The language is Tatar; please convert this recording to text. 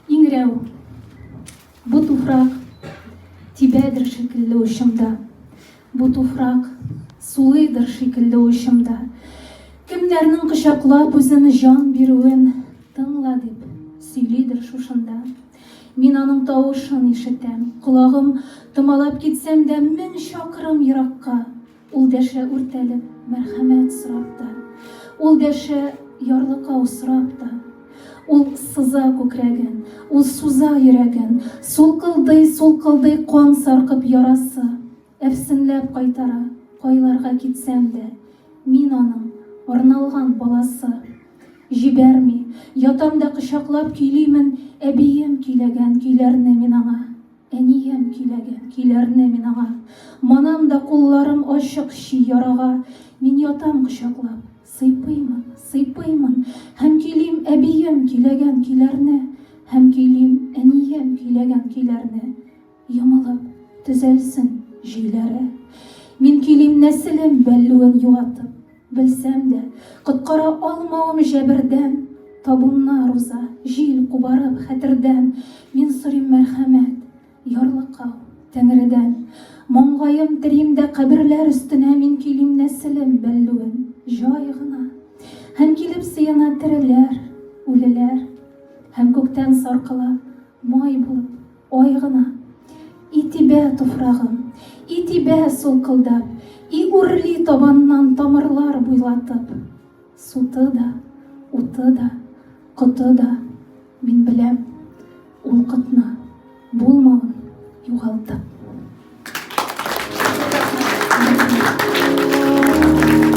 Иңрәү. Бу туфрак тибәдер шикелле учымда. Бу туфрак сулыйдыр шикелле учымда. Кемнәрнең кочаклап үзен җан бирүен тыңла дип сөйлидер шушында. Мин аның тавышын ишетәм, колагым томалап китсәм дә мең чакрым еракка. Ул дәшә үртәлеп, мәрхәмәт сорап та, Ул дәшә ярлыкау сорап та. Ул сыза күкрәген, ул суза йөрәген, Сулкылдый, сулкылдый кан саркып ярасы, Әфсенләп кайтара, кайларга китсәм дә, Мин аның арналган баласы. Җибәрми, ятам да кочаклап көйлимен, Әбием көйләгән көйләрне мин аңа. Әнием көйләгән көйләрне мин аңа Манам да кулларым ачык чи ярага Мин ятам кочаклап, сыйпыймын, сыйпыймын Һәм көйлим әбием көйләгән көйләрне Һәм көйлим әнием көйләгән көйләрне Йомылып, төзәлсен җөйләре Мин көйлим нәселем бәллүен югатып Белсәм дә, коткара алмавым җәбердән, Табуннар уза, җил кубарып хәтердән, Мин сорыйм мәрхәмәт, ярлыкау, Тәңредән. Маңгаем терим дә каберләр өстенә Мин көйлим нәселем бәллүен җай гына, Һәм килеп сыена тереләр, үлеләр, Һәм күктән саркыла Май булып, ай гына. И тибә туфрагым, и тибә сулкылдап, И үрли табаннан тамырлар буйлатып. Суты да, уты да, коты да, Мин беләм, ул котны, Булмавын югалтып.